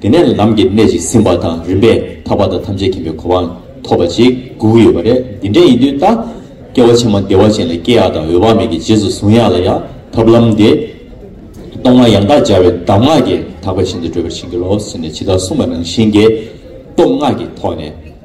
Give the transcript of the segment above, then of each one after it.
དེ་ནས་ལམ་གྱི་གནད་ཅིག་ཟིན་པ་དང་རིམ་པས་ཐར་པ་དང་ཐམས་ཅད་མཁྱེན་པའི་གོ་འཕང་ཐོབ་པ་ཅིག་སྒུག་ཡོད་པ་རེད་འདི་འདྲ་ཡིན་དུས་ད་སྐྱེ་བ་ཕྱི་མ་བདེ་བ་ཅན་ལ་སྐྱེ་ཡག་དང་འོད་དཔག་མེད་ཀྱི་རྗེས་སུ་གཟུང་ཡག་ལ་ཡང་ཐབས་ལམ་འདི། གཏོར་མ་ཡང་དག་སྦྱར་བའི་གདམས་ངག་གིས་དག་པའི་ཞིང་དུ་བགྲོད་པར་བྱིན་གྱིས་རློབས་ཟེར་ནས་ཇི་ལྟར་གསུངས་པ་ནང་བཞིན་གྱི་གཏོར་སྔགས་ཀྱི་ཐོག་ནས།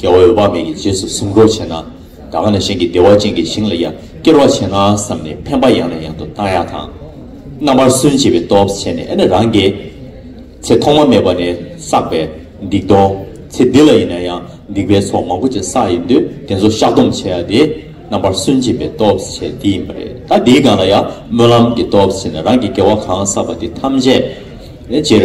རྒྱལ་བ་འོད་དཔག་མེད་ཀྱི་རྗེས་སུ་སེམས་འཁོར་བྱེད་ན། ད་ག་ནས་གཞན་གྱི་བདེ་བ་ཅན་གྱི་ཞིང་ལ་ཡང་སྐྱེར་བར་བྱེད་ན་བསམས་ནས་འཕེན་པ་ཡང་ནས་ཡང་དུ་བཏང་ཡག་དང། རྣམ་པར་སུན་བྱེད་པའི་སྟོབས་ཆེ་ནས་ཨེ་ན་རང་གི། ཚེ་ཐོག་མ་མེད་པ་ནས་བསགས་པའི་སྡིག་ལྟུང། ཚེ་འདི་ལ་ཡིན་ན་ཡང་སྡིག་པའི་ཚོགས་མང་པོ་ཅིག་བསགས་ཡོད་དུས་དེ་ཚོ་བཤགས་སྡོམ་བྱེད་ཡག་དེ། རྣམ་པར་སུན་བྱེད་པའི་སྟོབས་ཆེ་དེ་ཡིན་པ་རེད་ད་དེའི་སྒང་ལ་ཡང་སྨོན་ལམ་གྱི་སྟོབས་ཆེ་ནས་རང་གི་དགེ་བ་གང་བསགས་པ་དེ་ཐམས་ཅད། ཅེར།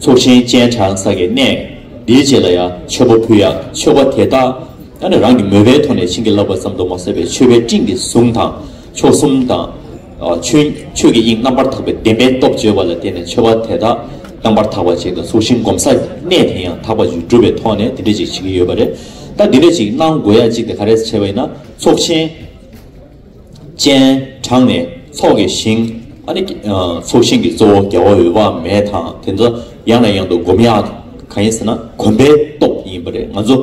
ཚོགས་ཆེན་སྤྱན་དྲངས་ས་གའི་གནས། འདིའི་རྗེས་ལ་ཡང་མཆོད་པ་ཕུལ་ཡང་ཆོག་པ་དེ་ལྟ། ཡང་ན་རང་གི་མོས་པའི་ཐོག་ནས་བྱིན་གྱིས་བརླབས་པ་ཙམ་དུ་མ་ཟད་པའི་མཆོད་པའི་སྤྲིན་གྱི་གཟུངས་དང། མཆོག་གསུམ་དང། ཆོས་ཆོས་ཀྱི་དབྱིངས་རྣམ་པར་དག་པའི་བདེན་པའི་སྟོབས་བརྗོད་པ་ལ་བརྟེན་ནས་མཆོད་པ་དེ་དག་རྣམ་པར་དག་པར་བྱས་ཏེ་ཚོགས་ཆེན་བསྒོམ་ས་གནས་དེ་ཡང་དག་པར་བསྒྲུབ་པའི་ཐོག་ནས་དེ་འདྲ་ཅིག་བྱེད་ཀྱི་ཡོད་པ་རེད། ད་འདི་འདྲ་ཅིག་གནང་དགོས་ཡ་གཅིག་དེ་ག་རེ་བྱས་པ་ཡིན་ན་ཚོགས་ཆེན། སྤྱན་དྲངས་ནས་ཚོགས་ཀྱི་ཞིང། ཚོགས་ཞིང་གི་གཙོ་བོ་རྒྱལ་བ་འོད་དཔག་མེད་དང་དེ་ཚོ་ཡང་ནས་ཡང་དུ་བསྒོམ་ཡག་གང་ཡིན་ཟེར་ན་གོམས་པའི་སྟོབས་ཡིན་པ་རེད་ང་ཚོ་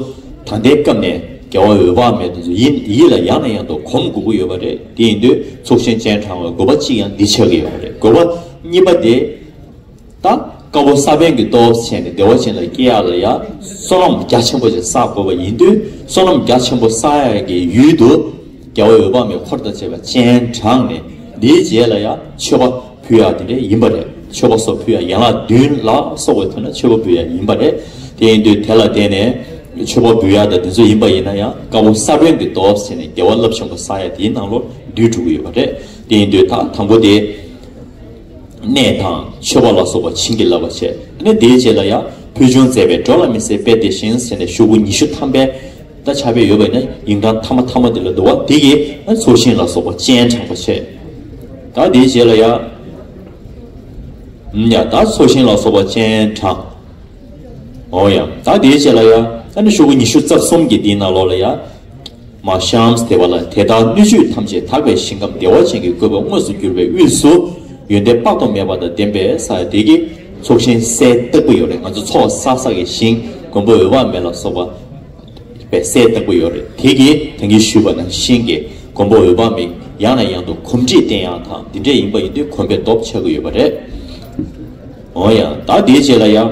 ད་ལྟའི་སྐབས་ནས་རྒྱལ་བ་འོད་དཔག་མེད་དེ་ཚོ་ཡིད་ལ་ཡང་ནས་ཡང་དུ་གོམས་དགོས་ཀྱི་ཡོད་པ་རེད་དེ་ཡིན་དུས་ཚོགས་ཞིང་སྤྱན་དྲངས་བའི་དགོས་པ་གཅིག་ཡང་འདི་ཆགས་ཀྱི་ཡོད་པ་རེད་དགོས་པ་གཉིས་པ་དེ། ད་དཀར་པོ་ས་པན་གྱི་སྟོབས་བྱས་ནས་བདེ་བ་ཅན་ལ་སྐྱེ་ཡ་ལ་ཡང་བསོད་ནམས་རྒྱ་ཆེན་པོ་ཅན་བསགས་དགོས་པ་ཡིན་དུས་བསོད་ནམས་རྒྱ་ཆེན་པོ་བསགས་ཡ་གི་ཡུལ་དུ། རྒྱལ་བ་འོད་དཔག་མེད་འཁོར་དང་བཅས་པ་སྤྱན་དྲངས་ནས་འདིའི་རྗེས་ལ་ཡང་མཆོད་པ་ཕུལ་ཡ་དེ་འདྲ་ཡིན་པ་རེད་མཆོད་པ་སོགས་ཕུལ་ཡ་ཡན་ལག་བདུན་ལ་སོགས་པའི་དོན་ལ་མཆོད་པ་འབུལ་ཡ་ཡིན་པ་རེད། དེ་ཡིན་དུས་དེ་ལ་བརྟེན་ནས་མཆོད་པ་འབུལ་ཡ་དང་དེ་ཚོ་ཡིན་པ་ཡིན་ན་ཡང་དཀར་པོ་ས་པན་གྱི་སྟོབས་བྱས་ནས་བདེ་བ་རླབས་ཆེན་པོ་བསགས་ཡ་དེའི་ནང་ལོ་རྒྱུས་གྲུབ་ཀྱི་ཡོད་པ་རེད་དེ་ཡིན་དུས་ད་དང་པོ་དེ། གནས་དང་མཆོད་པ་ལ་སོགས་པ་བྱིན་གྱིས་བརླབ་པར་བྱས་ནས་དེའི་རྗེས་ལ་ཡང་ཕུལ་བྱུང་མཛད་པའི་འགྲོ་ལ་མི་ཟད་པའི་དེ་བཞིན་ཟེར་ནས་ཤོག་བུ་ཉི་ཤུ་ཐམ་པའི་ད་ཆ་བས་ཡོད་པ་ནི་ཡིག་འབྲང་ཐ་མ་ཐ་མ་དེ་ལ་བསྡུ་བ་དེ་ཡི་ཚོགས་ཞིང་ལ་སོགས་པ་སྤྱན་དྲངས་པར་བྱས། དང་དེའི་རྗེས་ལ་ཡང། ཡང་དག་ཚོགས་ཞིང་ལ་སོགས་པ་སྤྱན་དྲངས། འོ་ཡང་དང་དེའི་རྗེས་ལ་ཡང། ཤོག་བུ་ཉི་ཤུ་རྩ་གསུམ་གྱི་དེའི་ནང་ལོགས་ལ་ཡང། མ་ཤཱནྟི་དེ་བ་ལ་དེ་ལྟར་སྣོད་བཅུད་ཐམས་ཅད་དག་པའི་ཞིང་ཁམས་བདེ་བ་ཅན་གྱི་བཀོད་པ་དངོས་སུ་གྱུར་པའི་དབུས་སུ། ཡོན་ཏན་དཔག་ཏུ་མེད་པ་དང་ལྡན་པའི་ས་ཡ་དེ་ཀའི་ཚོགས་ཤིང་སའི་སྟེགས་བུ་ཡོད་རེད་ང་ཚོ་ཚོགས་བསགས་བསགས་ཀྱི་ཞིང་མགོན་པོ་འོད་དཔག་མེད་ལ་སོགས་པའི་སའི་སྟེགས་བུ་ཡོད་རེད་དེ་ཀའི་དེང་གི་ཞུས་པ་ན་ཤིང་གི་མགོན་པོ་འོད་དཔག་མེད་ཡང་ན་ཡང་དུ་གོམས་འདྲིས་བསྟན་ཡང་དང་འདི་འདྲས་ཡིན་པ་ཡིན་དུས་གོམས་པའི་སྟོབས་ཆགས་ཀྱི་ཡོད་པ་རེད། འོན་ཡང་ད་དེའི་རྗེས་ལ་ཡང།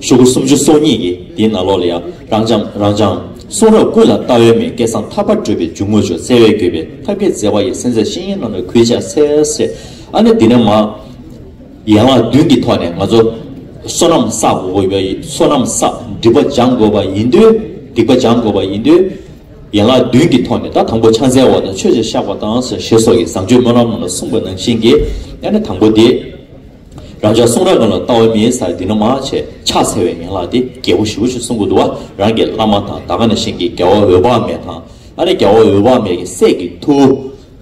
ཤུག་གུ་སུམ་ཅུ་སོ་གཉིས་ཀྱིས་དེའི་ནང་ལོགས་ལ་ཡང་རང་འབྱམས་རང་སྦྱངས། གསུང་རབ་ཀུན་ལ་བལྟ་འོས་མེད་སྐལ་བཟང་ཐར་པར་བགྲོད་པའི་འཇུག་ངོགས་ཆུ་གསལ་བས་བསྐྱོད་པའི་ཐབས་མཁས་བརྩེ་བ་ཡི་སེམས་ཚེགས་ཤེས་ཡོན་རྣམས་ལ་གུས་ཕྱག་འཚལ། ཨ་ནེ་འདི་ནས་མ། ཡན་ལག་བདུན་གྱི་ཐོག་ནས་ང་ཚོ། བསོད་ནམས་བསགས་དགོས་པ་ཡིན། བསོད་ནམས་བསགས་སྒྲིབ་པ་སྦྱང་དགོས་པ་ཡིན། སྡིག་པ་སྦྱང་དགོས་པ་ཡིན། ཡན་ལག་བདུན་གྱི་ཐོག་ནས་ད་དང་པོ་ཕྱག་འཚལ་བ་དང་ཆོས་བྱེད་བཤགས་པ་དང་ཞེས་སོགས་ཀྱི་བཟང་སྤྱོད་སྨོན་ལམ་རྣམས་ལ་གསུངས་པ་ནང་བཞིན་གྱིས་ཨ་ནེ་དང་པོ་དེ། རང་ཅག་གསུང་རབ་རྣམས་ལ་ལྟ་བ་མིའི་སར་འདི་ན་མ་བྱས་ཕྱག་འཚལ་བའི་ཡན་ལག་སྟེ་རྒྱལ་པོ་བཞི་པོ་ཆུ་སྲུང་གུ་དུ་བ་རང་གི་བླ་མ་དང་ད་ག་ན་གཤེན་གྱི་རྒྱལ་བ་འོད་དཔག་མེད་དང། ཨ་ནི་རྒྱལ་བ་འོད་དཔག་མེད་ཀྱི་སྲས་ཀྱི་ཐུ་བོ།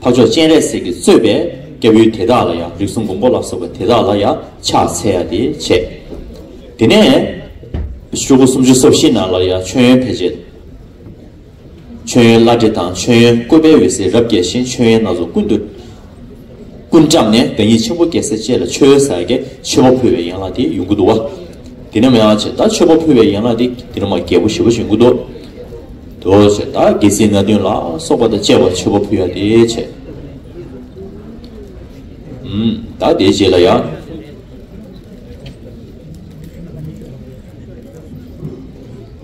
འཕགས་མཆོག་སྤྱན་རས་གཟིགས་ཀྱི་གཙོས་པའི་སྐྱབས་ཡུལ་དེ་དག་ལ་ཡང་རིགས་གསུམ་མགོན་པོ་ལ་སོགས་པ་དེ་དག་ལ་ཡང་ཕྱག་འཚལ་ཡ་དེ་བྱས། དེ་ནས། བཅུ་དགུ་སུམ་ཅུ་སོ་བཞི་ན་ལ་ཡང་མཆོད་ཡོན་འཕེལ་བྱེད་དུ། མཆོད་ཡོན་བླ་བྲེ་དང་མཆོད་ཡོན་བཀོད་པའི་འོད་ཟེར་རབ་རྒྱས་ཤིང་མཆོད་ཡོན་སྣ་ཚོགས་ཀུན་ཏུ་ཀུན་བཀྲམ་ནས་བདག་ཉིད་ཆེན་པོ་རྒྱལ་སྲས་བཅས་ལ་མཆོད་ཡོན་བསགས་ཏེ་མཆོད་པ་ཕུལ་བའི་ཡན་ལག་དེ་ཡོན་གུ་དུ་བ། དེ་ནས་མ་ཡང་བྱས་བདག་མཆོད་པ་ཕུལ་བའི་ཡན་ལག་དེ་དེ་ནས་མ་རྒྱལ་པོ་ཞི་བ་བྱིན་གུ་དུ་དུ་བྱས་བདག་རྒྱལ་སྲིད་ན་བདུན་ལ་སོགས་པ་དང་བཅས་པ་མཆོད་པ་ཕུལ་ཡ་དེ་བྱས། བདག་དེའི་རྗེས་ལ་ཡང།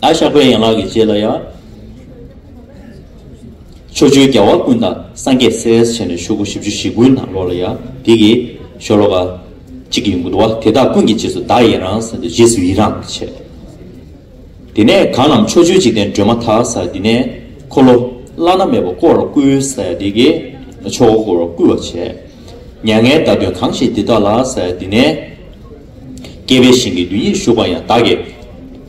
ཨ་ཤག་པའི་ཡན་ལག་གི་རྗེས་ལ་ཡ། ཕྱོགས་བཅུའི་རྒྱལ་བ་ཀུན་དང་སངས་རྒྱས་སེ་ཨེས་བྱས་ནས་ཤུག་གུ་བཞི་བཅུ་བཞི་ཀུན་དང་ལོག་ལ་ཡ། དེ་གི། ཤོ་ལོ་ཀ། གཅིག་གི་མགུ་དོ་བ་དེ་དག་ཀུན་གྱི་རྗེས་སུ་བདག་ཡེ་རང་ཟེར་དུ་རྗེས་སུ་ཡི་རང་གི་བྱས། དེ་ནས་གང་རྣམས་ཕྱོགས་བཅུའི་འཇིག་རྟེན་སྒྲོན་མ་དག་ས་དེ་ནས། འཁོར་ལོ། བླ་ན་མེད་པ་བསྐོར་བར་བསྐུལ་ས་ཡ་དེ་གི། ཕྱོགས་བསྐོར་བར་བསྐུལ་བར་བྱས། མྱ་ངན་བདག་མདུན་གང་ཞིག་འདི་དག་ལགས་ས་ཡ་དེ་ནས། བསྐལ་པའི་ཞིང་གི་རྡུལ་སྙེད་བཞུགས་པ་ཡང་བདག་གི།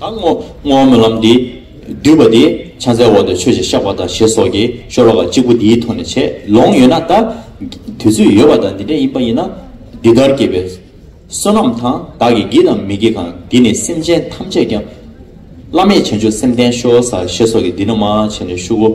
དང་བསྔོ་བ་སྨོན་ལམ་འདི་བསྡུས་པ་དེ་ཕྱག་འཚལ་འོག་ཏུ་ཆོས་ཀྱི་བཤགས་པ་དང་ཞེས་སོགས་ཀྱིས་ཤོ་ལོ་ཀ་གཅིག་པོ་འདིའི་ཐོག་ནས་བྱས་ལོང་ཡོད་ན་ད། དུས་ཚོད་ཡོད་པ་དང་འདི་འདྲ་ཡིན་པ་ཡིན་ན། འདི་ལྟར་སྐྱེས་པའི་བསོད་ནམས་དང་བདག་གིས་བགྱིས་དང་མི་བགྱིས་གང་འདི་ནི་སེམས་ཅན་ཐམས་ཅད་ཀྱང། བླ་མེད་བྱང་ཆུབ་སེམས་བརྟན་ཤོ་ས་ཞེས་སོགས་ཀྱིས་འདི་ན་མ་བྱས་ནས་བཞུགས།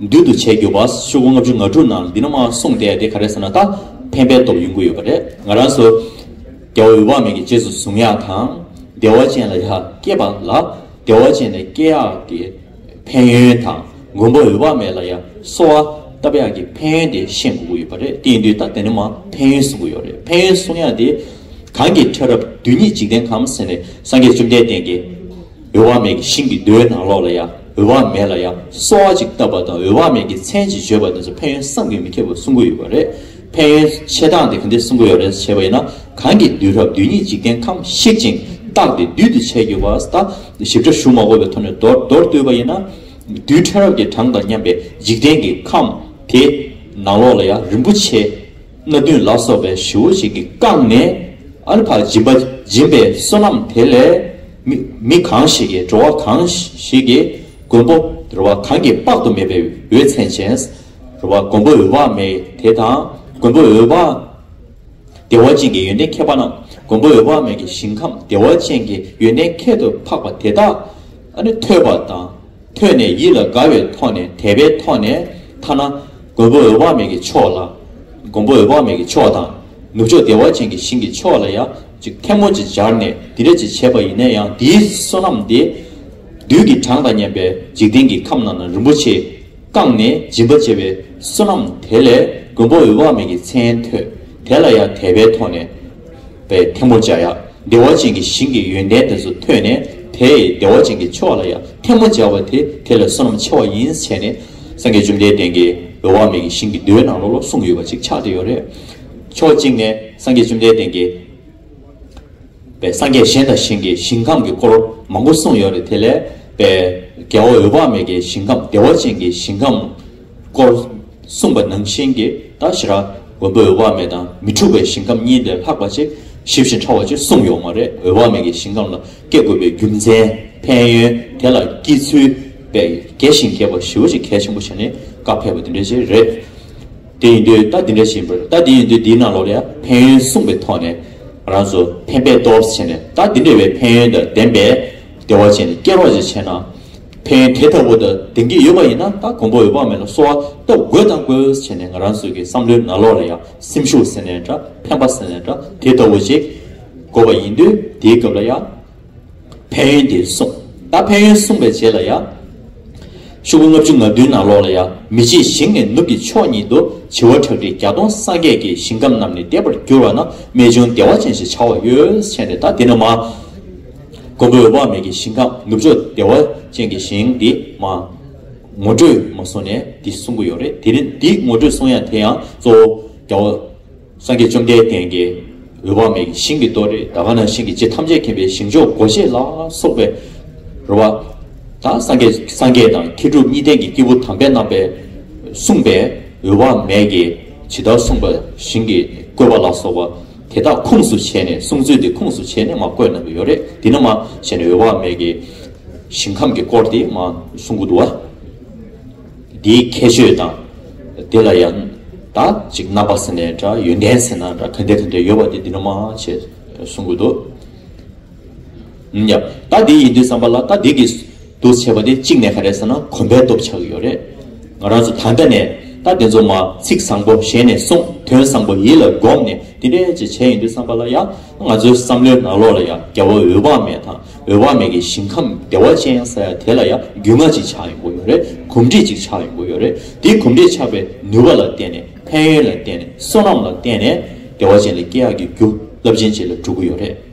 འདུལ་དུ་བྱས་གྱུར་པ་ཤོག་བུ་ལྔ་བཅུ་ང་དྲུག་ནང་འདི་ན་མ་གསུངས་སྟེ་དེ་ག་རེ་ཟེར་ན་ད་ཕན་པའི་སྟོབས་ཡོང་གི་ཡོད་པ་རེད་ང་རང་སུ། རྒྱལ་བ་འོད་དཔག་མེད་ཀྱི་རྗེས་སུ་གཟུང་ཡག་དང། བདེ་བ་ཅན་ལ་ཡག་སྐྱེས་པ་ལ་བདེ་བ་ཅན་ནས་སྐྱེས་ཡག་གི་ཕན་ཡོན་དང་མགོན་པོ་འོད་དཔག་མེད་ལ་ཡང་གསོ་བ་བཏབ་ཡག་གི་ཕན་ཡོན་དེ་བཤད་དགོས་ཀྱི་ཡོད་པ་རེད་དེ་ཡིན་དུས་ད་དེ་ནས་མ་ཕན་ཡོན་གསུང་གི་ཡོད་རེད་ཕན་ཡོན་གསུང་ཡག་དེ། གང་གི་ཕྲ་རབ་རྡུལ་སྙེད་འཇིག་རྟེན་ཁམས་ཟེར་ནས་སངས་རྒྱས་བཅོམ་ལྡན་བསྟན་གྱི། འོད་དཔག་མེད་ཀྱི་ཤིང་གི་རྡོའི་ནང་ལོགས་ལ་ཡང་འོད་དཔག་མེད་ལ་ཡང་སོ་བ་ཅིག་བཏབ་པ་དང་འོད་དཔག་མེད་ཀྱི་མཚན་ཅིག་བརྗོད་པ་དེ་ཚོ་ཕན་ཡོན་བསམ་གྱིས་མི་ཁྱབ་པ་གསུང་གི་ཡོད་པ་རེད། ཕན་ཡོན་ཆེ་གྲང་དེ་ག་འདི་གསུང་གི་ཡོད་རེད་ཟེར་བྱས་པ་ཡིན་ན་གང་གིས་བདུད་རབས་བདུད་ཉིད་འཇིག་རྟེན་ཁམས་བཤིག་ཅིང་བཏགས་ཏེ་བདུད་དུ་བྱས་གྱུར་པ་ད་ཞིབ་ཕྲ་ཞུ་མ་དགོས་པའི་ཐོག་ནས་མདོར་མདོར་བསྟོད་པ་ཡིན་ན། རྡུལ་ཕྲན་རབས་ཀྱི་གྲངས་དང་མཉམ་པའི་འཇིག་རྟེན་གྱི་ཁམས་དེ་ནང་ལོགས་ལ་ཡང་རིན་པོ་ཆེ་སྣ་བདུན་ལ་སོགས་པའི་བྱི་བོ་ཅིག་གིས་བཀང་ནས། ཨ་ནི་བག་སྦྱིན་པ་སྦྱིན་པའི་བསོད་ནམས་དེ་ལས། མི་གང་ཞིག་གིས་འགྲོ་བ་གང་ཞིག་གིས་མགོན་པོ་རུ་བ་གང་གིས་དཔག་ཏུ་མེད་པའི་འོད་མཚན་ཅན་རུ་བ་མགོན་པོ་འོད་དཔག་མེད་དེ་དང་མགོན་པོ་འོད་དཔག་བདེ་བ་ཅན་གྱི་ཡོན་ཏན་ཁྱད་པ་རྣམས་མགོན་པོ་འོད་དཔག་མེད་ཀྱི་ཞིང་ཁམས་བདེ་བ་ཅན་གྱི་ཡོན་ཏན་ཁྱད་དུ་འཕགས་པ་དེ་དག་ནི་ཐོས་པ་དང། ཐོས་ནས་ཡིད་ལ་དགའ་བའི་ཐོག་ནས་དད་པའི་ཐོག་ནས་ཐ་ན། མགོན་པོ་འོད་དཔག་མེད་ཀྱི་ཕྱོགས་ལ། མགོན་པོ་འོད་དཔག་མེད་ཀྱི་ཕྱོགས་དང། ནུབ་ཕྱོགས་བདེ་བ་ཅན་གྱི་ཞིང་གི་ཕྱོགས་ལ་ཡང་ཅིག་ཐལ་མོ་ཅིག་སྦྱར་ནས་འདི་འདྲ་ཅིག་བྱས་པ་ཡིན་ན་ཡང་འདིའི་བསོད་ནམས་དེ། རྡུལ་གྱི་གྲངས་དང་མཉམ་པའི་འཇིག་རྟེན་གྱི་ཁམས་རྣམས་ན་རིན་པོ་ཆེས་བཀང་ནས་སྦྱིན་པ་བྱས་པའི་བསོད་ནམས་དེ་ལས་མགོན་པོ་འོད་དཔག་མེད་ཀྱི་མཚན་ཐོས་དེ་ལ་ཡང་དད་པའི་ཐོག་ནས། པའི་ཐལ་མོ་སྦྱར། བདེ་བ་ཅན་གྱི་ཞིང་གི་ཡོན་ཏན་དེ་ཚོ་ཐོས་ནས་དེས་བདེ་བ་ཅན་གྱི་མཆོག་ལ་ཡང་ཐལ་མོ་སྦྱར་བ་དེ་དེ་ལ་བསོད་ནམས་ཆེ་བ་ཡིན་བྱས་ནས། སངས་རྒྱས་བཅོམ་ལྡན་འདས་ཀྱིས་འོད་དབང་མེད་ཀྱི་ཞིང་གི་རྡོའི་ནང་ལོགས་ལོགས་སུ་ཡོད་པ་ཅིག་ཆགས་ཏེ་ཡོད་རེད། ཕྱོགས་གཅིག་ནས་སངས་རྒྱས་བཅོམ་ལྡན་འདས་ཀྱིས། པའི་སངས་རྒྱས་གཞན་དང་ཞིང་གི་ཞིང་ཁམས་ཀྱི་སྐོར་མང་པོ་གསུངས་ཡོད་རེད་དེ་ལས། པའི། རྒྱལ་བ་འོད་དཔག་མེད་ཀྱི་ཞིང་ཁམས་བདེ་བ་ཅན་གྱི་ཞིང་ཁམས། སྐོར། གསུངས་པ་ནང་བཞིན་གྱི་དང་ཞི་ར། མགོན་པོས་འོད་དཔག་མེད་དང་མི་འཁྲུགས་པའི་ཞིང་ཁམས་གཉིས་ལས་ལྷག་པ་ཅིག་ཞི་བཞིན་ཕྲ་བ་ཅིག་གསུངས་ཡོག་མ་རེད་འོད་དཔག་མེད་ཀྱི་ཞིང་ཁམས་ལ་སྐྱེ་དགོས་པའི་རྒྱུ་མཚན་ཕན་ཡོན་དེ་ལ་སྐྱེ་ཚུལ་པས་རྒྱས་ཤིང་རྒྱས་པ་ཞི་བ་ཅིག་གལ་ཆེན་པོ་བྱས་ནས་བཀའ་ཕེབས་པ་འདི་འདྲ་ཞིག་རེད། དེ་ཡིན་དུས་རྟགས་འདི་འདྲ་ཞིག་ཡིན་པ་རེད་རྟགས་འདི་ཡིན་དུས་འདིའི་ནང་ལོགས་ལ་ཡང་ཕན་ཡོན་གསུངས་པའི་ཐོག་ནས་རང་ཚོ་ཕན་པའི་སྟོབས་བྱས་ནས་རྟགས་འདི་འདྲ་བའི་ཕན་ཡོན་དང་ལྡན་པའི་བདེ་བ་ཅན་ལ་སྐྱེ་རོགས་ཅིག་བྱས་ན། ཕན་དེ་ལྟ་བུ་དང་ལྡན་གྱི་ཡོད་པ་ཡིན་ན་ད་གོང་བུ་འོད་དཔག་མེད་ལ་གསོལ་བ་བཏབ་དགོས་དང་དགོས་བྱས་ནས་ང་རང་ཚོའི་གི་བསམ་བློའི་ནང་ལོག་ལ་ཡང་སེམས་ཤུགས་ཟེར་ནས་འདྲ་ཕན་པ་ཟེར་ནས་འདྲ་དེ་ལྟ་བུ་ཞིག་དགོས་པ་ཡིན་དུས་དེའི་སྐབས་ལ་ཡང། ཕན་ཡོན་དེ་གསུངས་ད་ཕན་ཡོན་གསུངས་པའི་རྗེས་ལ་ཡང། ཤུག་གུ་ལྔ་བཅུ་ང་བདུན་ནང་ལོག་ལ་ཡང་མི་བྱེད་ཞིང་ནས་ནུབ་ཀྱི་ཕྱོགས་ཉིད་དུ་བྱི་བ་ཁྲག་ཁྲིག་བརྒྱ་སྟོང་སངས་རྒྱས་ཀྱི་ཞིང་ཁམས་རྣམས་ནི་འདས་པར་གྱུར་བ་ན་རྨད་བྱུང་བདེ་བ་ཅན་ཞེས་བྱ་བ་ཡོད་བྱས་ནས་ད་འདི་ན་མ། མགོན་པོའི་དབང་མེད་ཀྱི་ཞིང་ཁམས་ནུབ་ཕྱོགས་བདེ་བ་ཅན་གྱི་ཞིང་འདི་མ། ངོ་སྤྲོད་མ་གསུངས་ནས་འདི་གསུང་གི་ཡོད་རེད་དེ་རིང་འདི་ངོ་སྤྲོད་གསུང་ཡང་དེ་ཡང་གཙོ་བོ་རྒྱ་བོད་སངས་རྒྱས་བཅོམ་ལྡན་འདས་འགའི་འོད་དབང་མེད་ཀྱི་ཞིང་གི་གཏོ་རེད་ད་ག་ན་ཞིང་གི་རྗེ་ཐམས་ཅད་མཁྱེན་པའི་ཞིང་མཆོག་སྒོ་འབྱེད་ལ་སོགས་པའི་རོལ་བ་དང་སངས་རྒྱས་སངས་རྒྱས་དང་མཁས་གྲུབ་གཉིས་ལྡན་གྱི་སྐྱེས་བུ་དམ་པའི་རྣམ་པས་གསུངས་པའི་འོད་དབང་མེད་ཀྱི་ཇི་ལྟར་གསུངས་པ་ཞིང་གི་བཀོད་པ་ལ་སོགས་པ། དེ་དག་ཁུངས་སུ་བྱས་ནས་གསུངས་ཚུལ་དེ་ཁུངས་སུ་བྱས་ནས་མ་བཀོད་གནང་གི་ཡོད་རེད་དེ་ནི་མ་བྱས་ནས་འོད་དཔག་མེད་ཀྱི་ཞིང་ཁམས་ཀྱི་སྐོར་དེ་མ་གསུངས་གི་འདུག་བ། དེའི་ཁྱད་ཆོས་དང། དེ་ལ་ཡང་དག་ཅིག་རྣམ་པ་ཟེར་ནས་འདྲ་ཡོན་ཏན་ཟེར་ན་འདྲ་ག་འདྲ་ག་འདྲ་ཡོད་པ་དེ་འདི་ནི་མ་བྱས་གསུངས་གི་འདུག། ཡབ། ད་འདི་ཡིན་དུས་བསམ་པ་ལ་ད་འདི་གིས། འདུ་བྱེད་པ་དེ་གཅིག་ནས་ག་རེ་ཟེར་ན་གོམས་པའི་སྟོབས་ཆགས་ཀྱི་ཡོད་རེད། ང་རང་ཚོ་ད་ལྟ་ནས་ད་འདི་ཚོ་མ་ཚིག་བཟང་པོ་གཞན་ནས་གསུང་དོན་བཟང་པོ་ཡིད་ལ་སྒོམ་ནས་འདི་འདྲས་ཅིག་བྱས་ཡིན་དུས་བསམ་པ་ལ་ཡ། ང་ཚོའི་བསམ་བློའི་ནང་ལོགས་ལ་ཡ་རྒྱ་བོ་འོད་དཔག་མེད་དང་འོད་དཔག་མེད་ཀྱི་ཞིང་ཁམས་བདེ་བ་ཅན་ཡང་ས་ཡ་དེ་ལ་ཡ་རྒྱུས་མངའ་ཅིག་ཆགས་ཡོང་གི་ཡོད་རེད་གོམས་འདྲིས་ཅིག་ཆགས་ཡོང་གི་ཡོད་རེད་འདི་གོམས་འདྲིས་ཆགས་པའི་ནུས་པ་ལ་བརྟེན་ནས་ཕན་ཡོན་ལ་བརྟེན་ནས་བསོད་ནམས་ལ་བརྟེན་ནས་བདེ་བ་ཅན་ལ་སྐྱེ་ཡག་གི་རྒྱུ་རླབས་ཆེན་ཅིག་ལ་འགྲོ་གི་ཡོད་རེད།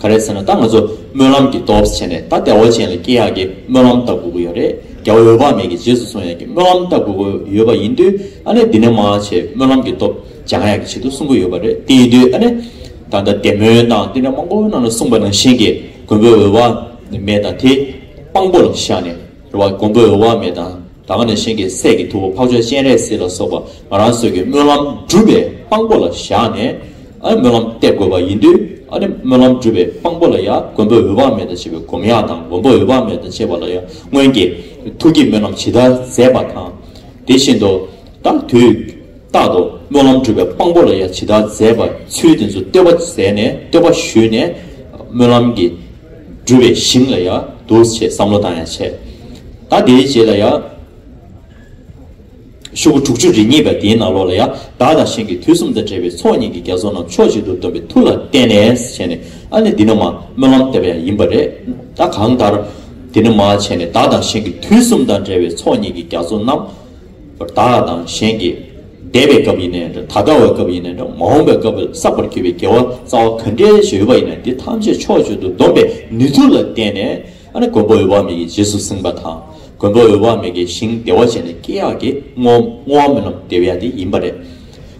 ག་རེད་ཟེར་ན་ད་ང་ཚོ་སྨོན་ལམ་གྱི་སྟོབས་བྱས་ནས་ད་བདེ་བོ་ཅན་ལ་སྐྱེ་ཡག་གི་སྨོན་ལམ་བཏབ་དགོས་ཀྱི་ཡོད་རེད་རྒྱལ་བ་འོད་དཔག་མེད་ཀྱི་རྗེས་སུ་སོང་ཡག་གི་སྨོན་ལམ་བཏབ་དགོས་ཀྱི་ཡོད་པ་ཡིན་དུས་ཨ་ནེ་འདི་ནས་མ་བྱས་སྨོན་ལམ་གྱི་སྟོབས་སྦྱང་ཡག་གི་བྱེད་དུ་གསུངས་ཀྱི་ཡོད་པ་རེད་དེ་ཡིན་དུས་ཨ་ནེ། ད་ལྟ་བདེ་སྨོན་དང་དེ་འདྲ་མང་པོ་རྣམས་ལ་གསུངས་པ་ནང་བཞིན་གྱི་མགོན་པོའི་འོད་དཔག་མེད་དང་དེ་དཔང་པོ་ལ་བཞག་ནས་རེད་བ་མགོན་པོའི་འོད་དཔག་མེད་དང། དང་ནས་གཞན་གྱི་སྲས་ཀྱི་ཐུ་བོ་འཕགས་མཆོག་སྤྱན་རས་གཟིགས་ལ་སོགས་པ་ང་རང་སོས་ཀྱི་སྨོན་ལམ་སྒྲུབ་པའི་དཔང་པོ་ལ་བཞག་ནས། སྨོན་ལམ་གཏད་དགོས་པ་ཡིན་དུས། སྨོན་ལམ་སྒྲུབ་པའི་དཔང་པོ་ལ་ཡང་མགོན་པོ་འོད་དཔག་མེད་དང་བཅས་པའི་སྒོམ་ཡག་དང་མགོན་པོ་འོད་དཔག་མེད་དང་བཅས་པ་ལ་ཡང་སྔོན་གྱི་ཐུགས་ཀྱི་སྨོན་ལམ་ཇི་ལྟར་མཛད་པ་དང། དེ་བཞིན་དུ། ད་དུས་རྟག་ཏུ་སྨོན་ལམ་སྒྲུབ་པའི་དཔང་པོ་ལ་ཡང་ཇི་ལྟར་མཛད་པ་ཚུལ་དེ་ཚོ་བསྟོད་པ་མཛད་ནས་བསྟོད་པ་ཞུས་ནས། སྨོན་ལམ་གྱི། སྤྲུལ་བའི་ཞིང་ལ་ཡང་འདུག་ཅེས་བསམ་བློ་བཏང་ཡང་ཆད། ད་དེའི་རྗེས་ལ་ཡང། ཤོག་གུ་དྲུག་ཅུ་རེ་གཉིས་པ་དེའི་ནང་ལོགས་ལ་ཡང་བདག་དང་ཞིང་གི་དུས་གསུམ་དང་བྲལ་བའི་ཚོགས་གཉིས་ཀྱི་རྒྱ་མཚོ་རྣམས་ཕྱོགས་གཅིག་ཏུ་བསྡོམས་པའི་ཐུགས་ལ་བརྟེན་ནས་བྱས་ནས་ཨ་ནི་འདི་ནི་མ་སྨོན་ལམ་སྟེར་བ་ཡང་ཡིན་པ་རེད་ད་གང་ལྟར། འདི་ནི་མ་བྱས་ནས་བདག་དང་ཞིང་གི་དུས་གསུམ་དང་བྲལ་བའི་ཚོགས་གཉིས་ཀྱི་རྒྱ་མཚོ་རྣམས། བདག་དང་གཞན་གྱི་འདས་པའི་སྐབས་ཡིན་ནའི་འདྲ་ད་ལྟ་བའི་སྐབས་ཡིན་ནའི་འདྲ་མ་འོངས་པའི་སྐབས་བསགས་པར་གྱུར་པའི་དགེ་བ་རྩ་བ་ག་འདྲའི་ཞིག་ཡོད་པ་ཡིན་ནའི་དེ་ཐམས་ཅད་ཕྱོགས་བཅུ་དུ་བསྡོམས་པའི་ནུས་མཐུ་ལ་བརྟེན་ནས་མགོན་པོ་འོད་དཔག་མེད་ཀྱིས་རྗེས་སུ་བསྲིངས་པ་དང། མགོན་པོ་འོད་དཔག་མེད་ཀྱི་ཞིང་བདེ་བ་ཅན་ནི་སྐྱེ་ཡག་གི་བསྔོ་བ་སྨོན་ལམ་བདེ་བ་དེ་ཡིན་པ་རེད།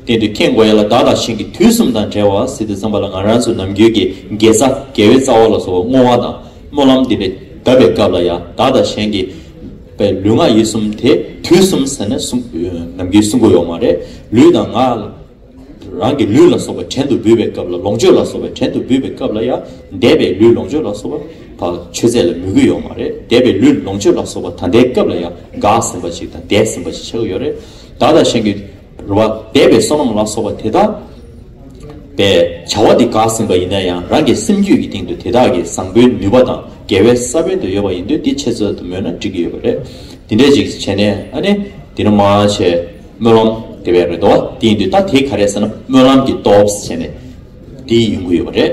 སྟེང་དུ་ཁྱེད་མགོ་ཡག་ལ་བདག་དང་གཞན་གྱི་དུས་གསུམ་དང་བྲལ་བ་སྲིད་དུ་བརྩམས་པ་ལ་ང་རང་ཚོའི་ནམ་རྒྱུན་གྱི་དགེ་རྩ་དགེ་བའི་རྩ་བ་ལ་སོགས་བསྔོ་བ་དང་སྨོན་ལམ་འདི་བདབ་པའི་སྐབས་ལ་ཡང་བདག་དང་གཞན་གྱི་པའི་ལུས་ངག་ཡིད་གསུམ་དེ་དུས་གསུམ་ཟེར་ནས་ནམ་མཁའི་སྲུང་འཁོར་ཡོང་བ་རེད། ལུས་དང་ངག། རང་གི་ལུས་ལ་སོགས་པའི་བྲན་དུ་འབུལ་བའི་སྐབས་ལ་ལོངས་སྤྱོད་ལ་སོགས་པའི་བྲན་དུ་འབུལ་བའི་སྐབས་ལ་ཡང་འདས་པའི་ལུས་ལོངས་སྤྱོད་ལ་སོགས་པ་བག་མཆོད་རྫས་ལ་མོས་གུས་ཡོང་བ་རེད། འདས་པའི་ལུས་ལོངས་སྤྱོད་ལ་སོགས་པ་ད་ལྟའི་སྐབས་ལ་ཡང་འགགས་ཟིན་པ་ཞིག་དང་འདས་ཟིན་པ་ཞིག་ཆགས་ཀྱི་ཡོད་རེད། བདག་དང་གཞན་གྱི། རུ་བ་འདས་པའི་བསོད་ནམས་ལ་སོགས་པ་དེ་དག་པས་བྱ་བ་འདི་འགགས་ཟིན་པ་ཡིན་ན་ཡང་རང་གི་སེམས་རྒྱུད་ཀྱི་སྟེང་དུ་དེ་དག་གི་བཟང་པོའི་ནུས་པ་དང་དགེ་བའི་ས་བོན་དུ་ཡོད་པ་ཡིན་དུས་འདི་ཆེད་རྩོད་དུ་སྨོས་ན་འགྲིག་གི་ཡོད་པ་རེད། འདི་འདྲས་ཅིག་བྱས་ནས་ཨ་ནི་འདི་ནི་མ་བྱས་སྨོན་ལམ་དེ་བས་རེ་དོགས་དེ་ཡིན་དུས་ད་དེ་ག་རེད་ཟེར་ན་སྨོན་ལམ་གྱི་སྟོབས་བྱས་ནས་དེ་ཡིན་དགོས་ཡོད་པ་རེད།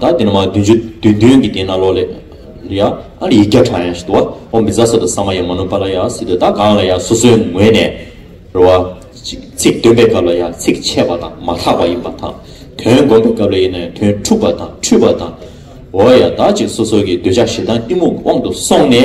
ད་དེ་ནི་མ་བདུན་ཅུ་བདུན་བདུན་གྱི་དེ་ན་ལོ་ལེ། ཡ། ཨ་ཡིག་བརྒྱ་ཕྲག་ཡང་ཞིག་དུ་བ། ཨོ་མི་ཛ་སོ་དོ་ས་མ་ཡ་མ་ནུ་པ་ལ་ཡ་སི་དོ་ད་གང་ལ་ཡང་སོ་སོའི་ངོས་ནས། རེ་བ། ཚིག་འདོན་པའི་སྐབས་ལ་ཡང་ཚིག་ཆད་པ་དང་མ་ཐག་པ་ཡིན་པ་དང། དོན་བསྒོམ་པའི་སྐབས་ལ་ཡིན་ན་ཡང་དོན་འཁྲུགས་པ་དང་འཁྲུལ་པ་དང། འོ་ཡ་ད་ཅིག་སོ་སོ་ཀྱི་འདོད་ཆགས་ཞེ་སྡང་གཏི་མུག་དབང་དུ་སོང་ནས།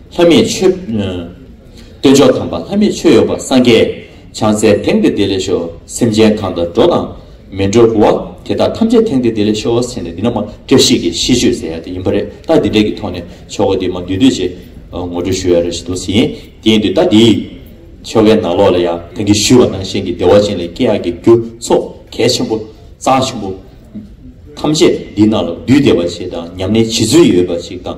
ལྷ་མིའི་ཆོས། སྟོན་མཆོག་དམ་པ་ལྷ་མིའི་ཆོས་ཡོད་པ་སངས་རྒྱས་བྱང་སེར་དེང་འདིར་བདེ་ལེགས་ཤོག་སེམས་ཅན་གང་དག་འགྲོ་དང་མི་འགྲོ་བ་དེ་དག་ཐམས་ཅད་དེང་འདིར་བདེ་ལེགས་ཤོག་བ་སེམས་ནས་འདི་ན་མ་བཀྲ་ཤིས་ཀྱི་ཤིས་བརྗོད་ཟེར་ཡ་དེ་ཡིན་པ་རེད་ད་འདི་འདྲ་གི་ཐོག་ནས་ཆོ་ག་འདི་མ་འདུས་དུས་ཆེད་ངོ་སྤྲོད་ཞུ་ཡ་རེ་ཞིག་འདུག་ཟིན་དེ་འདུས་ད་འདི་ཆོ་གའི་ནང་ལོག་ལ་ཡ་ད་གི་ཞུས་བ་ནང་བཞིན་གི་བདེ་བ་ཅན་ལས་སྐྱེ་ཡག་གི་རྒྱུ་ཚོགས་གལ་ཆེན་པོ་གཙང་ཆེན་པོ། ཐམས་ཅད་འདི་ན་ལ་འདུས་བདེ་བ་ཆེ་དང་ཉམས་ལེན་བྱེད་ཚུལ་ཡོད་པ་ཞིག་དང།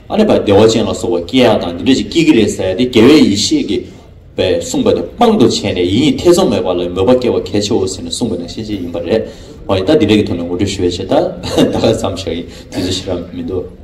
ཨ་ནེ་པ་བདེ་བ་ཅན་ལ་སོགས་པ་སྐྱེ་ཡག་དང་འདི་འདྲ་ཞིག་སྐྱེ་གི་རེད་ཟེར་ཏེ་རྒྱལ་བའི་ཡེ་ཤེས་ཀྱི་པས་གསུངས་པ་དེ་དཔང་དུ་བྱས་ནས་ཡིན་ཡིན་ཐེ་ཚོམ་མེད་པ་ལ་མོས་པ་སྐྱེ་བ་གལ་ཆེའོ་ཟེར་ནས་གསུངས་པ་དང་ཤེས་བྱེད་ཡིན་པ་རེད། ཧོ་ཡིན་ད་འདི་འདྲ་གི་ཐོག་ནས་ངོ་སྤྲོད་ཞུ་བའི་ཆེད་ད་ལྟ་ལ་བསམ་བཞག་ཡིན་དུས་ཚོད་ཕྱི་རབས་མི་འདུག།